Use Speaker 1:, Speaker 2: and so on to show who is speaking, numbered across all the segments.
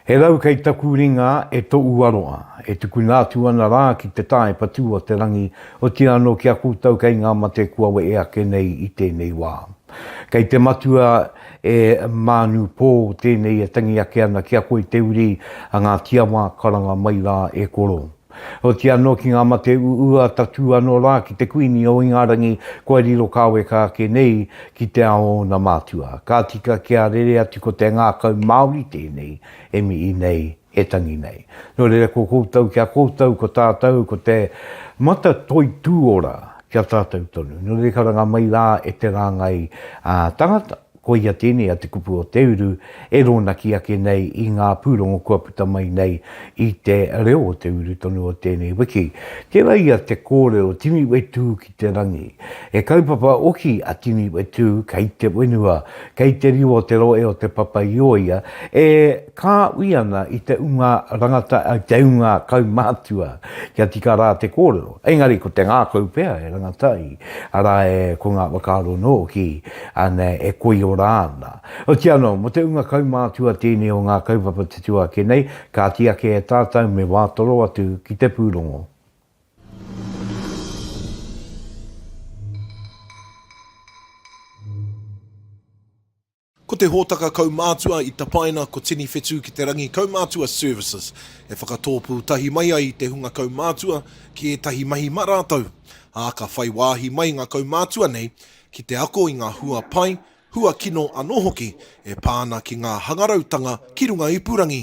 Speaker 1: He rau kei taku ringa e to uaroa, e tukuna atu ana ra ki te tae patu o te rangi, otia ano ki a koutou kei nga mate kua wee ake nei i tenei wa. Kei te matua e Manu Po tenei e tangi ake ana ki a koe te uri a nga tiawa karanga mai ra e koro. Oti anō ki ngā mate uua tatū anō rā ki te Kuini o Ingarangi kua riro kāweka ake nei ki te ao o ōna mātua. Ka tika kia rere atu ko te ngākau Māori tēnei e mihi nei, e tangi nei. Nō reira ko koutou ki a koutou ko tātou ko te mata toi tū ora ki a tātou tonu. Nō reira karanga mai rā e te rāngai tangata. Koia tēnei a Te Kupu o Te Uru e rōnaki ake nei i ngā pūrongo kua puta mai nei i te reo o te uru tonu o tēnei wiki. Tērā ia te kōrero tini wetū ki te rangi. He kaupapa oki a tini wetū kei te whenua, kei te riu o te rohe o Te Papa-i-ōia e kāhui ana i te unga rangata, i te unga kaumātua kia tika rā te kōrero. Engari ko te ngākau pea e rangata ai. Arā, e, ko ngā whakaaro nō ki, anei, e koiora ana. Otirā anō, mō te ūnga kaumātua tēnei o ngā kaupapa tutū ake nei, kāti ake e tātou me wā toro atu ki te pūrongo.
Speaker 2: Ko te hōtaka kaumātua i tapaina ko Tini Whetū ki te Rangi Kaumātua Services, e whakatōpū tahi mai ai i te hunga kaumātua ki ētahi mahi mā rātou, ā, ka whai wāhi mai ngā kaumātua nei ki te ako i ngā hua pai, hua kino anō hoki e pā ana ki ngā hangarautanga ki runga ipurangi.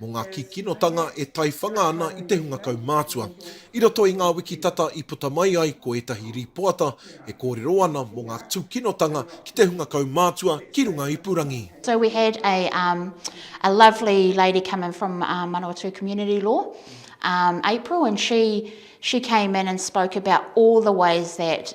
Speaker 2: mō ngā kīkinotanga e taiwhanga ana i te hunga kaumātua. I roto i ngā wiki tata i puta mai ai ko ētahi rīpoata e kōrero ana mō ngā tūkinotanga ki te hunga kaumātua ki runga ipurangi. So we had a
Speaker 3: um, a lovely lady come in from um, Manawatū Community Law, um, April, and she she came in and spoke about all the ways that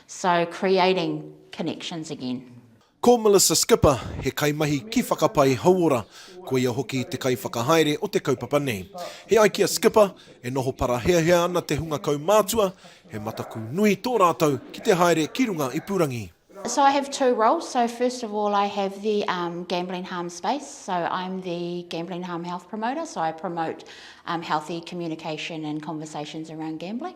Speaker 3: So creating connections again. Ko Melissa
Speaker 2: Skipper, he kaimahi ki Whakapai Hauora, ko ia hoki te kaiwhakahaere o te kaupapa nei. He ai ki a Skipper, e noho paraheahea ana te hunga kaumātua, he mataku nui tō rātou ki te haere ki runga ipurangi. So I have two
Speaker 3: roles, so first of all I have the um, gambling harm space, so I'm the gambling harm health promoter, so I promote um, healthy communication and conversations around gambling.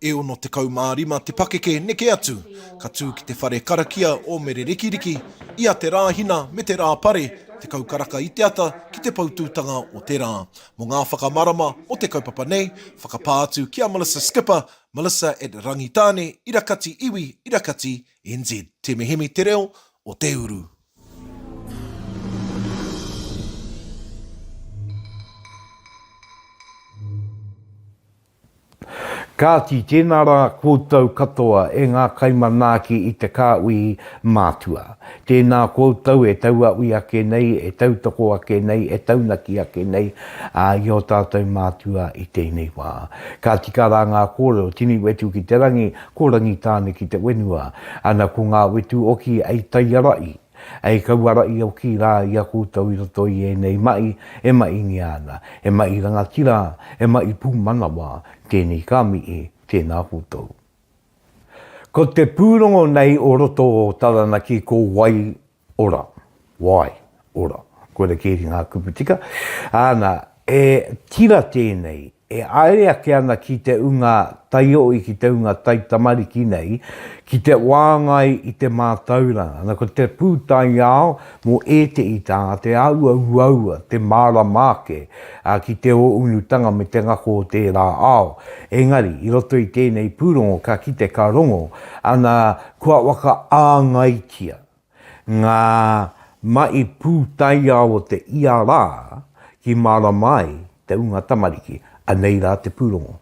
Speaker 2: E 65 te pakeke neke atu, ka tū ki te whare karakia o Mere Rikiriki, i a Te Rāhina me Te Rāpare, tekau karaka i te ata ki te poutūtanga o te rā. Mō ngā whakamarama o te kaupapa nei, whakapā atu ki a Melissa Skipper, Melissa at Rangitāne, Ira Kati Iwi, Ira Kati NZ. Temehemi te reo o te uru.
Speaker 1: Kāti, tēnā rā koutou katoa e ngā kaimanaaki i te kāuihi mātua. Tēnā koutou e tauawi ake nei, e tautoko ake nei, e taunaki ake nei, ā, i ō tātou mātua i tēnei wā. Ka tika rā ngā kōrero, tini wetu ki te rangi, ko Rangitāne ki te wenua. Ana ko ngā wetu oki ei taiarahi. Hei kauara i oki rā i a koutou i roto i ēnei mahi e mahingia ana, he mahi rangatira, he mahi pūmanawa, tēnei ka mihi, tēnā koutou. Ko te pūrongo nei o roto o Taranaki ko Wai Ora, Wai Ora, koira keri ngā kupu tika, āna, E tira tēnei, e aere ake ana ki te unga taioi, ki te unga taitamariki nei, ki te wāngai i te mātauranga. Ana, ko te pūtaiao mō ētehi taha, te āhua uaua, te mārama ake ki te ōunutanga me te ngako o tērā ao. Engari, i roto i tēnei pūrongo, ka kite ka rongo, ana, kua whakaāngaitia. Ngā mahi pūtaiao o te ia rā ki mārama ai te ūnga tamariki, anei rā te pūrongo.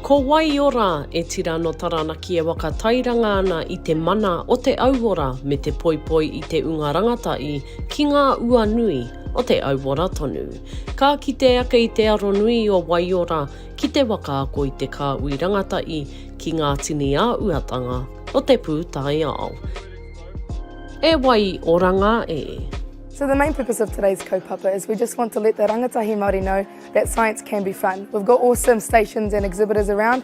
Speaker 4: Ko wai ora, e tira no Taranaki e waka tairanga ana i te mana o te auora me te poipoi i te unga rangatahi ki nga ua nui o te auora tonu. Ka kite ake i te aro nui o Waiora ki te waka ako i te kāhui rangatahi ki ngā tini āhuatanga o te pūtaiao. E Waioranga e! So the main
Speaker 5: purpose of today's kaupapa is we just want to let the rangatahi Māori know that science can be fun. We've got awesome stations and exhibitors around.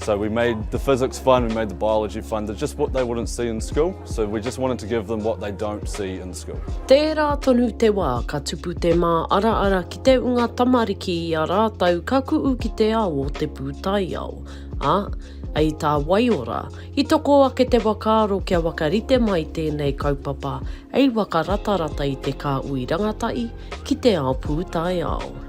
Speaker 6: So we made the physics fun, we made the biology fun, they're just what they wouldn't see in school, so we just wanted to give them what they don't see in school. Tērā tonu
Speaker 4: te wā ka tupu te mā ara ara ki te unga tamariki i a rātou ka kuʻu ki te ao o te pūtaiao. A, ei tā Waiora, i toko ake te wakaaro kia wakarite mai tēnei kaupapa hei waka ratarata i te kāhui rangatahi ki te ao pūtaiao.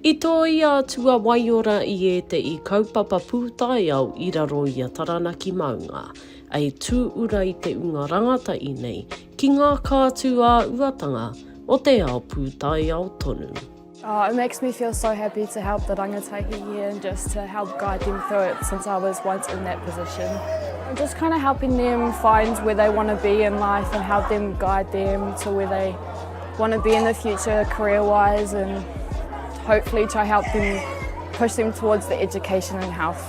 Speaker 6: I tōia
Speaker 4: atu a Waiora i ētehi kaupapa pūtaiao i raro i a Taranaki Maunga, ei tūura i te ūnga rangatahi nei ki ngā kātū ā-uatanga o te ao pūtaiao tonu. Oh it makes
Speaker 7: me feel so happy to help the rangatahi here and just to help guide them through it since I was once in that position. I'm just kind of helping them find where they want to be in life and help them guide them to where they want to be in the future career wise and hopefully to help them push them towards the education and health.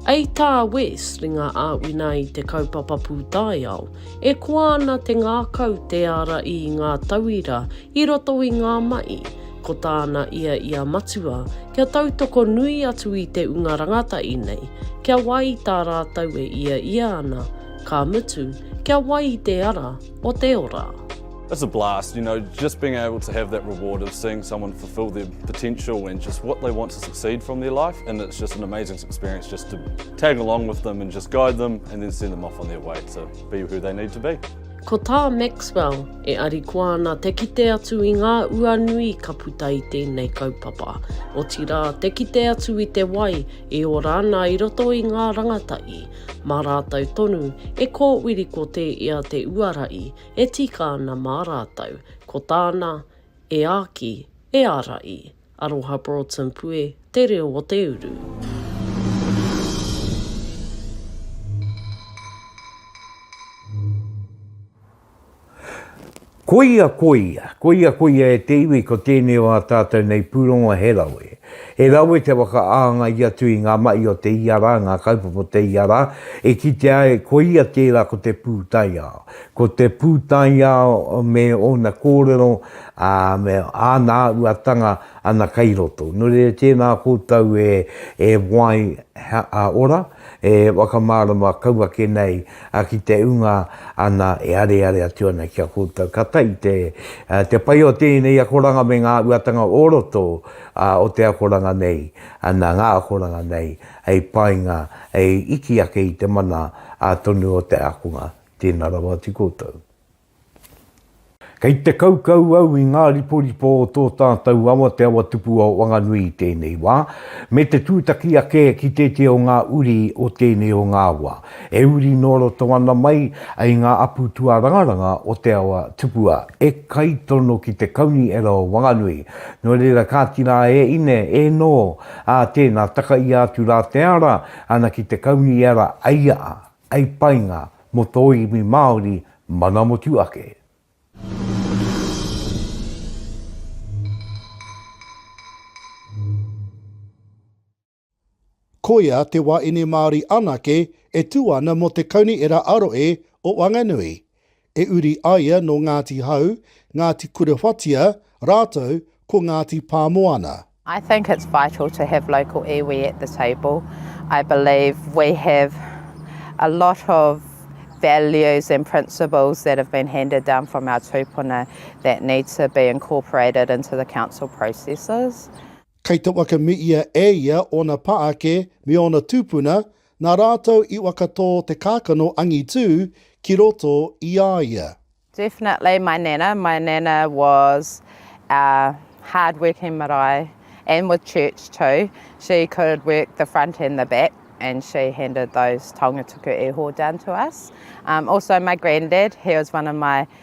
Speaker 7: Ei tā
Speaker 4: Wes, ringa āwhina i te kaupapa pūtaiao, e koa ana te ngākau te ara i ngā tauira i roto i ngā mahi, ko tāna ia i a Matua kia tautoko nui atu i te unga rangatahi nei, kia wai i tā rātou e ia ia ana, ka mutu, kia wai i te ara o te ora. It's a
Speaker 6: blast, you know, just being able to have that reward of seeing someone fulfil their potential and just what they want to succeed from their life and it's just an amazing experience just to tag along with them and just guide them and then send them off on their way to be who they need to be. Ko tā
Speaker 4: Maxwell, e arikoa ana te kite atu i ngā ua nui ka puta i tēnei kaupapa, otirā te kite atu i te wai e ora ana i roto i ngā rangatahi, mā rātou tonu e kōwiri kotē ia te uara i, E tika ana mā rātou, ko tāna, E Āki, e ara i. Aroha Broughton Pue, Te Reo o te Uru.
Speaker 1: Koia, koia, koia, koia e te iwi ko tēnei o ā tātou nei pūrongo he rawe. He rawe te whakaāngai atu i ngā mahi o te ia rā, ngā kaupapa o te ia rā, e kitea ai koia tērā ko te pūtaiao. Ko te pūtaiao me ōna kōrero, ā, me āna āhuatanga ana kei roto. Nō reira, tēnā koutou e wai ora, e whakamārama kau ake nei ki te ūnga ana e areare atu ana ki a koutou. Ka tahi te pai o tēnei akoranga me ngā āhuatanga o roto o te akoranga nei, ana ngā akoranga nei hei painga, hei iti ake i te mana tonu o te ākonga. Tēnā rawa atu koutou. Kei te kaukau au i ngā riporipo o tō tātou awa Te Awatupua o Wanganui i tēnei wā, me te tūtaki ake ki tētehi o ngā uri o tēnei o ngā awa, e uri nō roto ana mai i ngā apu tuarangaranga o Te Awatupua, e kaitono ki te Kauniera o Wanganui. Nō reira, kāti rā e ine, e nō, ā, tēnā, takaia atu rā te ara, ana ki te Kauniera, aia a. Hei painga mo tō iwi Māori mana motu ake.
Speaker 8: Koia te wā ine Māori anake e tū ana mō te Kaunihera Aroe o Wanganui. E uri aia nō Ngāti Hau, Ngāti Kurewhatia rātou ko Ngāti Pāmoana. I think it's
Speaker 9: vital to have local iwi at the table. I believe we have a lot of values and principles that have been handed down from our tūpuna that need to be incorporated into the council processes. Kei te
Speaker 8: waka me ia e ia ōna pā ake me ōna tūpuna, Nā rātou i wakatō te kākano angitū ki roto i a ia. Definitely my
Speaker 9: nana, my nana was a hard working marae and with church too, she could work the front and the back and she handed those taonga tuku iho down to us. Also my grandad, he was one of my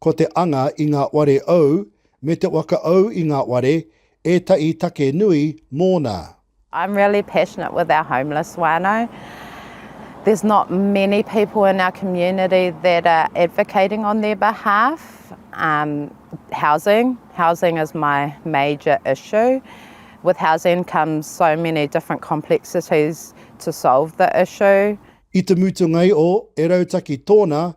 Speaker 8: Ko te anga i ngā ware ou me te waka ou i ngā ware ētahi take nui mōna. I'm really
Speaker 9: passionate with our homeless whānau. There's not many people in our community that are advocating on their behalf. Um, housing, housing is my major issue. With housing comes so many different complexities to solve the issue. I te mutungai
Speaker 8: o e rautaki tōna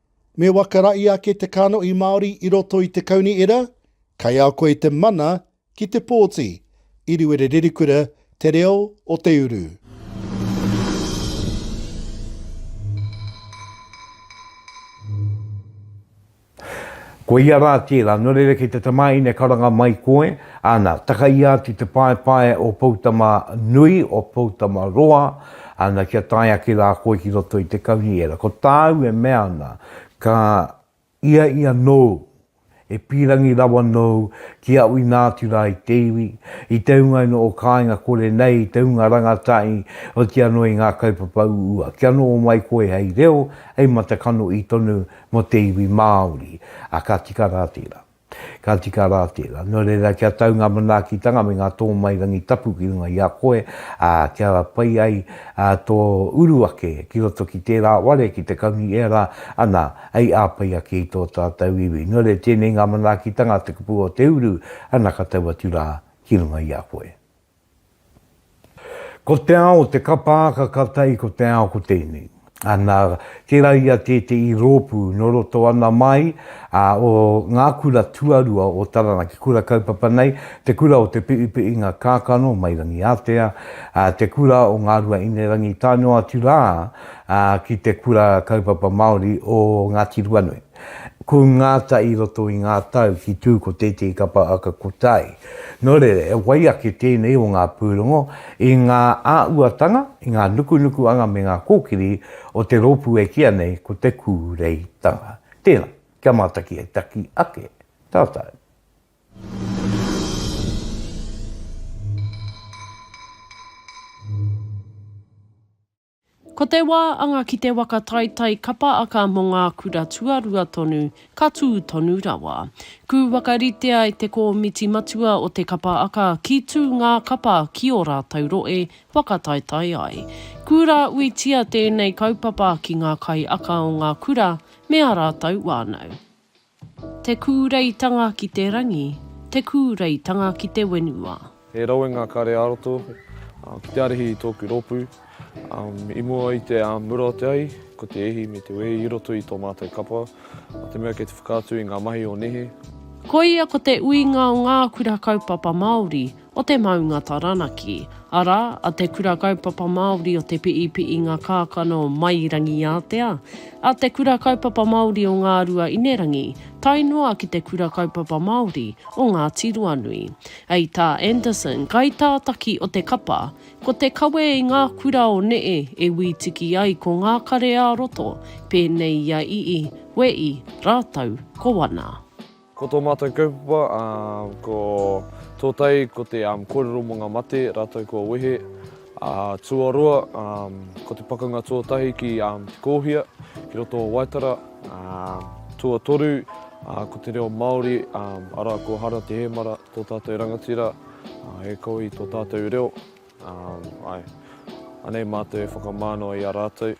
Speaker 9: Me
Speaker 8: wakarahi ake te kanohi Māori i roto i te kaunihera, kai a koe te mana ki te pōti, Iriwere Rerikura, Te Reo o te Uru.
Speaker 1: Ko ia rā tērā, nō reira ki te tamāhine karanga mai koe, ana, takaia atu te paepae o Poutama nui, o Poutama roa, Ana kia tae ake rā koe ki roto i te kaunihera. Ko tāu e mea ana, Ka i a ia nōu, e pīrangi rawa nōu ki au inā atu rā i te iwi, i te hunga ino o kāinga kore nei, i te hunga rangatahi, oti anō i ngā kaupapa uua. Kia noho mai koe hei reo, hei matakanoʻi tonu mō te iwi Māori. A ka tika rā tērā. Ka tika rā tērā. Nō reira, kia tau ngā manaakitanga me ngā tōmairangi tapu ki runga i a koe, ā, kia pai ai tō uru ake ki roto ki tērā ware, ki te Kaunui Ērā, ana, hei āpai ake i tō tātou iwi. Nō reira, tēnei ngā manaakitanga, te kupu o te uru, ana ka tau atu rā ki runga i a koe. Ko te ao te kapa aka ka tai ko te ao ko tēnei. Ana, tērā ia tēteī rōpū nō roto ana mai a o ngā kura tuarua o Taranaki kura kaupapa nei, te kura o Te Piʻipiʻinga Kākano, mai Rangiātea, a, te kura o Ngā Rua Inerangi tae noa atu rā a, ki te kura kaupapa Māori o Ngāti Ruanui. Ko Ngata i roto i ngā tau ki tū ko tētehi kapa aka ko Tai. Nō reira, he wai ake tēnei o ngā pūrongo i ngā āuatanga, i ngā nukunukuanga me ngā kōkiri o te rōpū e kīa nei ko Te Kūreitanga. Tēnā, kia mātaki e taki ake tātou.
Speaker 4: Ko te wā anga ki te waka taitai kapa aka mō ngā kura tuarua tonu, ka tū tonu rawa. Kū whakaritea e te kōmiti matua o te kapa aka ki tū ngā kapa ki ō rātou rohe whakataetae ai. Kū rā uitia tēnei kaupapa ki ngā kaiaka o ngā kura me ā rātou wānau. Te kūreitanga ki te rangi, te kūreitanga ki te wenua. He rawe ngā kare
Speaker 6: ā-roto ki te arihi i tōku rōpū. I mua i te mura o te ahi, ko te ihi me te wehi i roto i tō mātou kapa, nā te mea kei te whakaatu i ngā mahi o nehe. Koia ko
Speaker 4: te uinga o ngā kura kaupapa Māori, o te maunga Taranaki, arā, a Te Kura Kaupapa Māori o Te Piipiinga Kākano Mai Rangiātea, a Te Kura Kaupapa Māori o Ngārua Inerangi, tae noa ki Te Kura Kaupapa Māori o Ngāti Ruanui. Hei tā Anderson, kaitātaki o te kapa, ko te kawe i ngā kura o neē e wītiki ai ko ngā kare ā-roto, pēnei i a Ii, Wēi rātou ko Wana. Ko tō mātou
Speaker 6: kaupapa, ko tō tai, ko te kōrero mō ngā mate rātou kua wehe. Tuaroa, ko te pakanga tuatahi ki Te Kōhia, ki roto o Waitara. Tuatoru, ko te reo Māori, arā, ko Hara Te Hēmara tō tātou rangatira, e koi tō tātou reo. Anei mātou e whakamānawa i a rātou.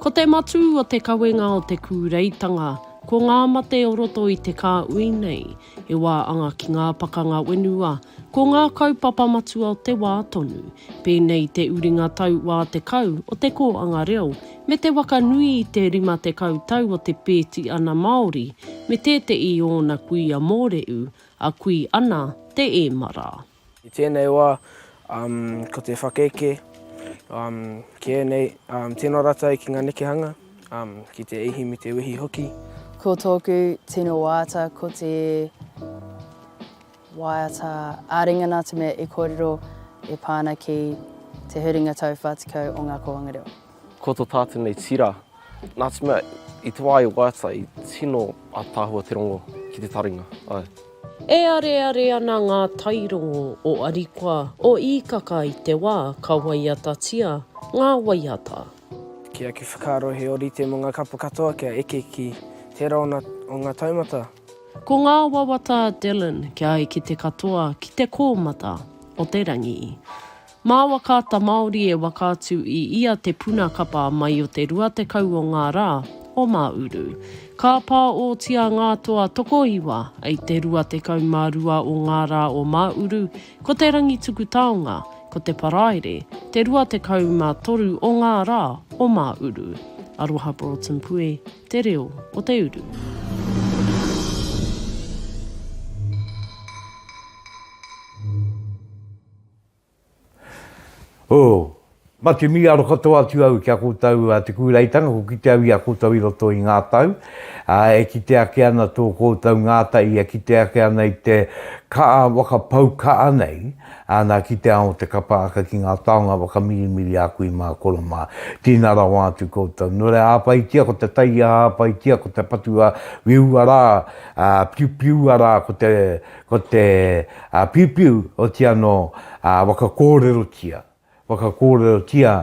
Speaker 6: Ko te matū
Speaker 4: o te kawenga o te kūreitanga, ko ngā mate o roto i te kāhui nei, he wā anga ki ngā pakanga whenua, ko ngā kaupapa matua o te wā tonu, pēnei te uringa tau wā tekau o te kōanga reo, me te waka nui i te rima tekau tau o te pēti ana Māori me tēteʻi ōna kuia mōreʻu, a kui ana te ēmara. I tēnei wā,
Speaker 10: ko te whakaeke kē nei, tino ratou ki ngā nekehanga, ki te ihi me te wehi hoki. Ko tōku
Speaker 11: tino waiata ko te waiata ā-ringa-nā te mea e kōrero e pā ana ki te huringa tau whātikau o ngā kōhanga reo. Ko to tātou
Speaker 12: nei tira, nā te mea i te wā i waiata i tino ataahua te rongo ki te taringa, ae. E
Speaker 4: areare ana ngā tairongo o Arikoa, o Īkaka i te wā ka waiatatia ngā waiata. Ki aku
Speaker 10: whakaaro he orite mo nga kapa katoa kia eke ki tera ona o nga taumata. Ko ngā
Speaker 4: wawata a Dylan kia ai ki te katoa, ki te kōmata o te rangi. Mā Wakaata Māori e waka atu i ia te puna kapa mai o te 20 o ngā rā o Māuru. Ka pāōtia ngā toa tokoiwa i te 22 o ngā rā o Māuru, ko Te Rangituku-taonga, ko Te Paraire, te 23 o ngā rā o Māuru. Aroha Broughton Pue, Te Reo o te Uru.
Speaker 1: Oh, mate mīaro katoa atu au ki a koutou a Te Kūreitanga, ko kite au i a koutou i roto i ngā tau, ā, e kite ake ana tō koutou ngātahi, e kite ake ana i te ka'a waka pau ka'a nei, ā, nā, ki te ao te kapa aka ki ngā taonga waka mirimiri a kui mā koro mā. Tīna rawa atu koutou. Nō reira, āpaitia ko te taiaha, āpaitia ko te patua, whiua rā, ā, piupiua rā ko te, Ko te piupiu oti anō waka kōrerotia, waka kōrerotia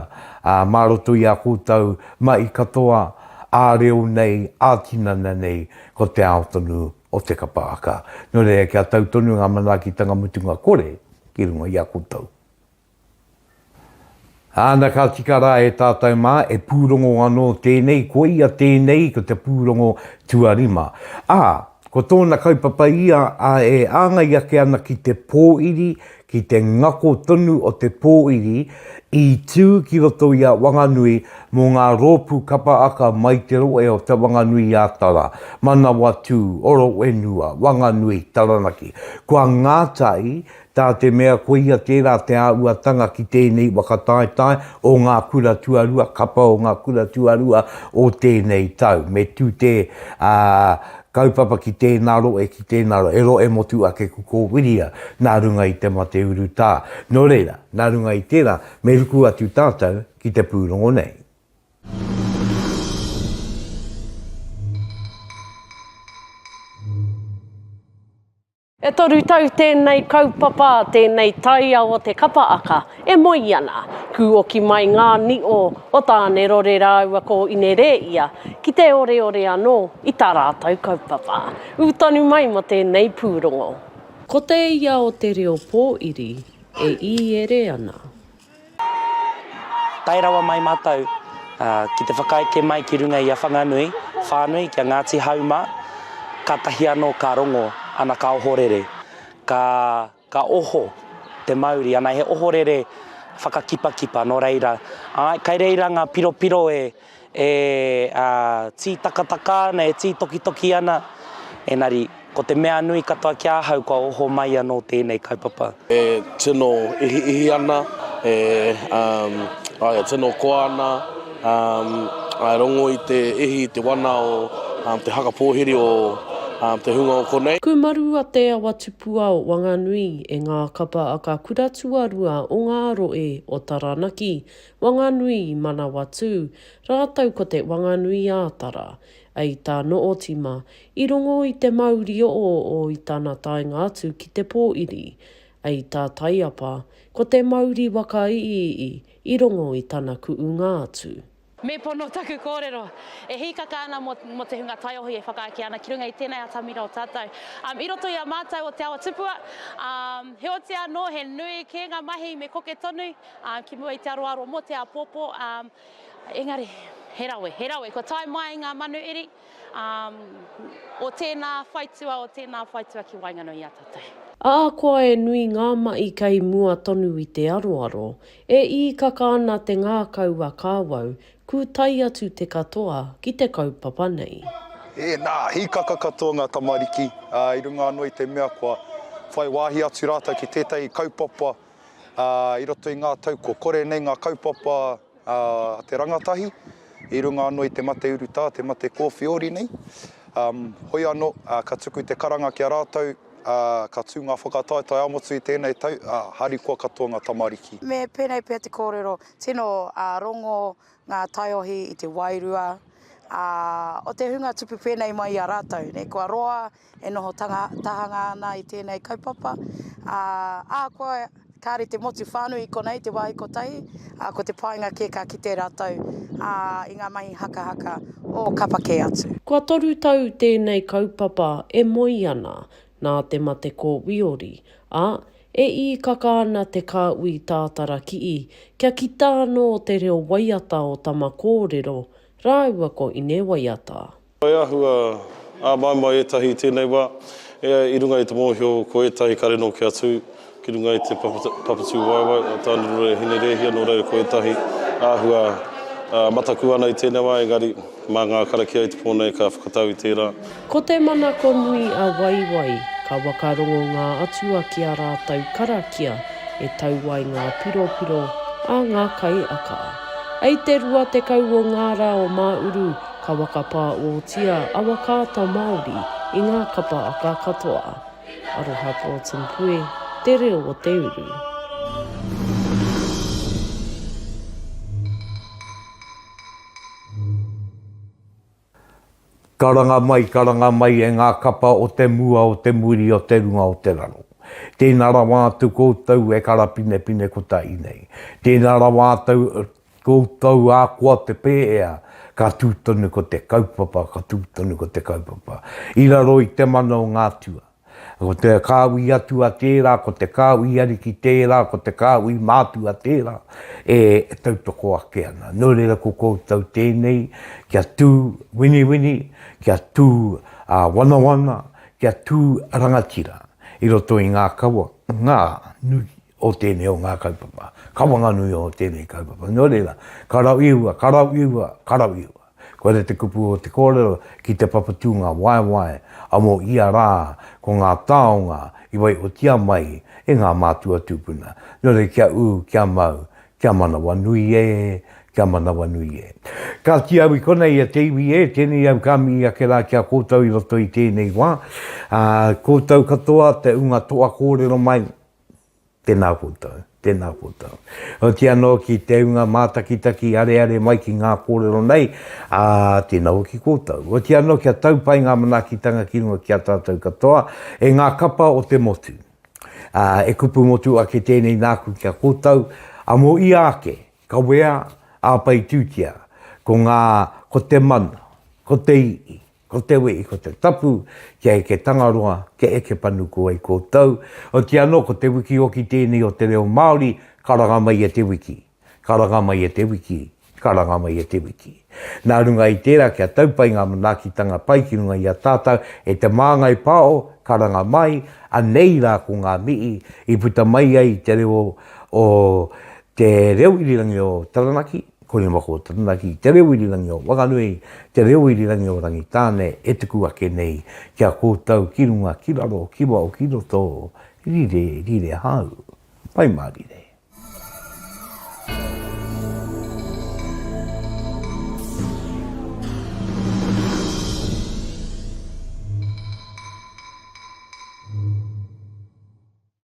Speaker 1: mā roto i a koutou mahi katoa ā-reo nei, ā-tinana nei, ko te ao tonu o te kapa aka. Nō reira kia tau tonu ngā manaakitanga mutunga kore ki runga i a koutou. Āna ka tika rā e tātou mā, e pūrongo anō tēnei, koia tēnei ko te pūrongo tuarima. Ā, ko tōna kaupapa ia a e āngai ake ana ki te pōiri, ki te ngako tonu o te pōiri i tū ki roto i a Wanganui mō ngā rōpū kapa aka mai te rohe o Te Whanganui-a-Tara, Manawatū, Oro-whenua, Wanganui, Taranaki. Kua ngātai Tā te mea koia tērā te āhuatanga ki tēnei whakataetae o ngā kura tuarua, kapa o ngā kura tuarua o tēnei tau. Me tū te kaupapa ki tēnā rohe, ki tēnā rohe, he rohe motu ake ko Kōwhiria nā runga i te mate urutā. Nō reira, nā runga i tērā, me ruku atu tātou ki te pūrongo nei.
Speaker 4: E toru tau tēnei kaupapa, tēnei taiao o te kapa aka e moe ana. Kūoki mai ngā nīo o Tānerore rāua ko Inerēia ki te oreore anō i tā rātou kaupapa. Ū tonu mai mō tēnei pūrongo. Ko te ia o te reo pōiri e īere ana.
Speaker 13: Tae rawa mai mātou ki te whakaeke mai ki runga i a Whanganui, whānui ki a Ngāti Hau mā, kātahi anō ka rongo ana ka ohorere, ka oho te mauri, ana he ohorere whakakipakipa nō reira, āe, kai reira ngā piropiro e. e tītakataka ana, e tītokitoki ana, engari ko te mea nui katoa ki ahau kua oho mai anō tēnei kaupapa. E tino
Speaker 14: ihiihi ana, e tino koa ana, e rongo i te ihi, i te wana o te haka pōhiri o te hunga o konei. Kūmaru a Te Awa
Speaker 4: Tupua o Wanganui e ngā kapa a ka kura tuarua o ngā rohe o Taranaki, Wanganui i Manawatū, rātou ko te Wanganui-ā-Tara. A i tā Nootima, i rongo i te mauri o o i tana taenga atu ki te pōiri. A i tā Taiapa, ko te mauri waka iiii i rongo i tana kuunga atu. Me pono taku
Speaker 15: kōrero. E hīkaka ana mō, mō te hunga taiohi e whakaeke ana ki runga i tēnei atamira o tātou. Um, i roto i a mātou o Te Awa Tupua, um, heoti anō he nui kē ngā mahi me koke tonu. Ā, ki mua i te aroaro mō te āpōpō, ā, engari, he rawe, he rawe, kua tae mai ngā manu iri, ā, o tēnā whaitua, o tēnā whaitua ki waenganui i a tātou. Ā, koa e
Speaker 4: nui ngā maʻi kei mua tonu i te aroaro, e īkaka ana te ngākau a Kawau, kūtai atu te katoa ki te kaupapa nei. Ēnā,
Speaker 16: hīkaka katoa ngā tamariki, ā, i runga anō i te mea kua whai wāhi atu rātou ki tētahi kaupapa i roto i ngā tau kua kore nei ngā kaupapa a te rangatahi i runga anō i te mate urutā, te mate kōwhiori nei. Um, hoi anō, uh, ka tuku te karanga ki a rātou, uh, ka tū ngā whakataetae amotu i tēnei tau, uh, harikoa katoa ngā tamariki. Me pēnei pea te
Speaker 17: kōrero, tino uh, rongo ngā taiohi i te wairua uh, o te hunga tupu pēnei mai i a rātou, ne, kua roa, e noho tahanga ana i tēnei kaupapa, ā, ahakoa kāre te motu whānui i konei te wāhi kotahi, ā, ko te painga kē ka kite rātou, ā, i ngā mahi hakahaka o kapa kē atu. Kua toru tau
Speaker 4: tēnei kaupapa e moe ana nā te mate ko Wiori, ā, e īkaka ana te kāhui tātara kii kia kita anō te reo waiata o Tama Kōrero rāua ko Ine Waiata. I āhua
Speaker 6: āmaimai ētahi i tēnei wā, i runga i te mōhio ko ētahi kare nōki atu ki runga i te papatūwaewae o Tānerure e Hine Rēhia, nō reira ko ētahi āhua mataku ana i tēnei wā, engari mā ngā karakia i te pō nei ka whakatau i tērā. Ko te manako
Speaker 4: nui a Waiwai, ka wakarongo ngā atua ki ā rātou karakia e tau ai ngā piropiro a ngā kaiaka. I te 20 o ngā rā o Māuru, Ka wakapā otia awa kāta Māori i ngā kapa aka katoa. Aroha Broughton Pue, Te Reo o te Uru.
Speaker 1: Karanga mai, karanga mai e ngā kapa o te mua, o te muri, o te runga, o te raro. Tēnā rawa atu koutou e karapinepine kotahi nei. Tēnā rawa atu, Koutou a koa te pēhea, ka tū tonu ko te kaupapa, ka tū tonu ko te kaupapa. I raro i te mana o ngā tua. Ko te kāu i atua tērā, ko te kāu i ariki tērā, ko te kāu i mātua tērā, e tautoko ake ana. Nō reira ko koutou tēnei kia tū winiwini, kia tū wanawana, kia tū rangatira i roto i ngā kawa, ngā nui. o tēnei o ngā kaupapa, ka whanganui o tēnei kaupapa. Nō reira, ka rau ihua, ka rau ihua, ka rau ihua. Koira te kupu o te kōrero ki te papatūnga waewae a mō ia rā ko ngā taonga i waiotia mai e ngā mātua tūpuna. Nō reira kia ū, kia mau, kia manawanui e, kia manawanui e. Kāti au i konei e te iwi e, tēnei au ka mihi ake rā ki a koutou i roto i tēnei wā. Ā, koutou katoa te ūnga toa kōrero mai, Tēnā koutou, tēnā koutou. Oti anō ki te unga mātakitaki areare mai ki ngā kōrero nei, ā, tēnā au ki koutou. Oti anō kia tau pai ngā manaakitanga ki runga ki a tātou katoa, e ngā kapa o te motu. Ā, e kupu motu ake tēnei nāku ki a koutou, ā, mō ia ake, kawea, āpaitūtia, ko ngā, ko te mana, ko te i'i, Ko te wī, ko te tapu, kia eke Tangaroa, kia eke Panuku ai koutou. Oti anō, ko te wiki oki tēnei o te reo Māori, karanga mai e te wiki, karanga mai e te wiki, karanga mai e te wiki. Nā runga i tērā kia tau pai ngā manaakitanga pai ki runga i a tātou, e te māngai pao, karanga mai, anei rā ko ngā mihi i puta mai ai te reo o te reo irirangi o Taranaki, Kore wako o Taranaki, te reo irirangi o Wanganui, te reo irirangi o Rangitāne e tuku ake nei ki a koutou ki runga, ki raro, ki wao, ki roto, rire, rire hau. Pai mārire.